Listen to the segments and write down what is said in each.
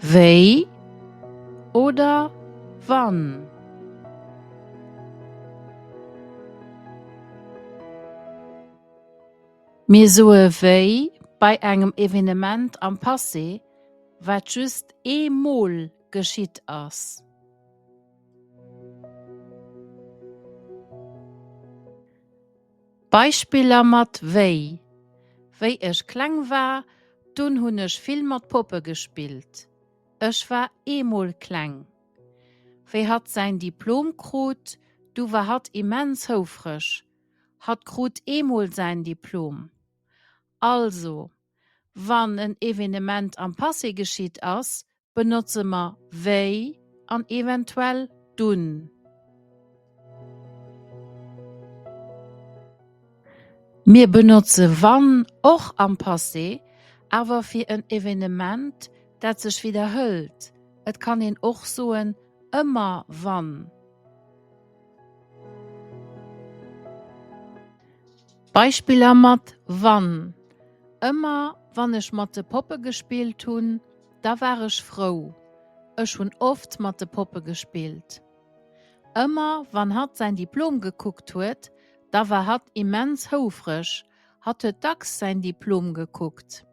Wéi oder wann? Mir soe wéi bei engem Evenement am Passé, wat just ee Mol geschitt ass. Beispiller mat wéi, Wéi ech kleng war, dunn hunn ech vill mat Poppe gespillt. Ech war eemol kleng. Wéi hatt säin Diplom krut, du war hatt immens houfreg. Hatt krut eemol säin Diplom. Also, wann en Evenement am Passé geschitt ass, benotze mer wéi an eventuell dunn. Mir benotze wann och am Passé, awer fir en Evenement, dat sech widderhëlt. Et kann een och soen ëmmer wann. Beispiller mat wann, Ëmmer wann ech mat de Poppe gespillt hunn. Da war ech frou. Ech hunn oft mat de Poppe gespillt. Ëmmer wann hatt säin Diplom gekuckt huet, da war hatt immens houfreg. Hatt huet dacks säin Diplom gekuckt.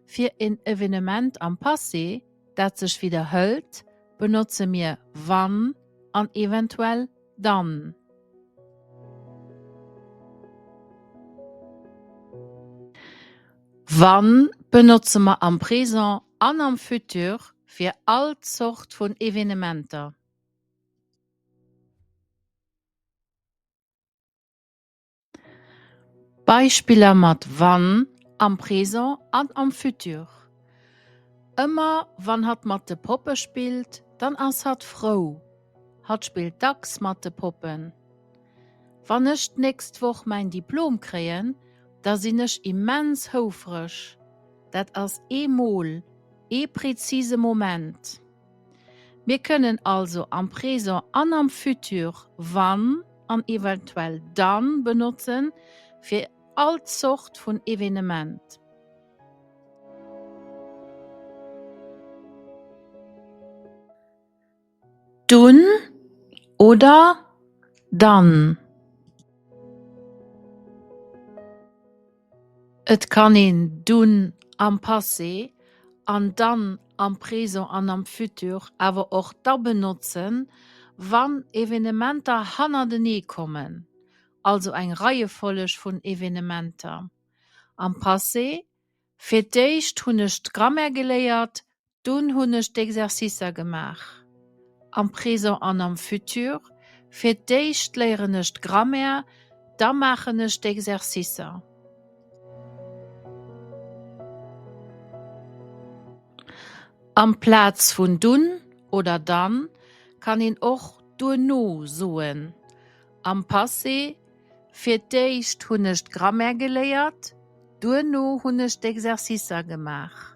Fir en Evenement am Passé, dat sech widderhëlt, benotze mir wann an eventuell dann. Wann benotze mer am Présent an am Futur fir all Zort vun Evenementer? Beispiller mat wann am Présent an am Futur, Ëmmer wann hatt mat de Poppe spillt, dann ass hatt frou. Hatt spillt dacks mat de Poppen. Wann ech d'nächst Woch mäin Diplom kréien, da sinn ech immens houfreg. Dat ass ee Mol, ee prezise Moment. Mir kënnen also am Présent an am Futur wann an eventuell dann benotzen, fir all Zort vun Evenement. Dunn oder dann. Et kann een dunn am Passé an dann am Présent an am Futur awer och da benotzen, wann Evenementer hannertenee kommen, also eng Reiefolleg vun Evenementer. Am Passé, Fir d'éischt hunn ech d'Grammaire geléiert, Dunn hunn ech d'Exercicer gemaach, am Présent an am Futur, fir d'éischt léieren ech d'Grammaire, da maachen ech d'Exercicer. Amplaz vun dunn oder dann kann een och duerno soen. Am Passé, Fir d'éischt hunn ech d'Grammaire geléiert, duerno hunn ech d'Exercicer gemaach.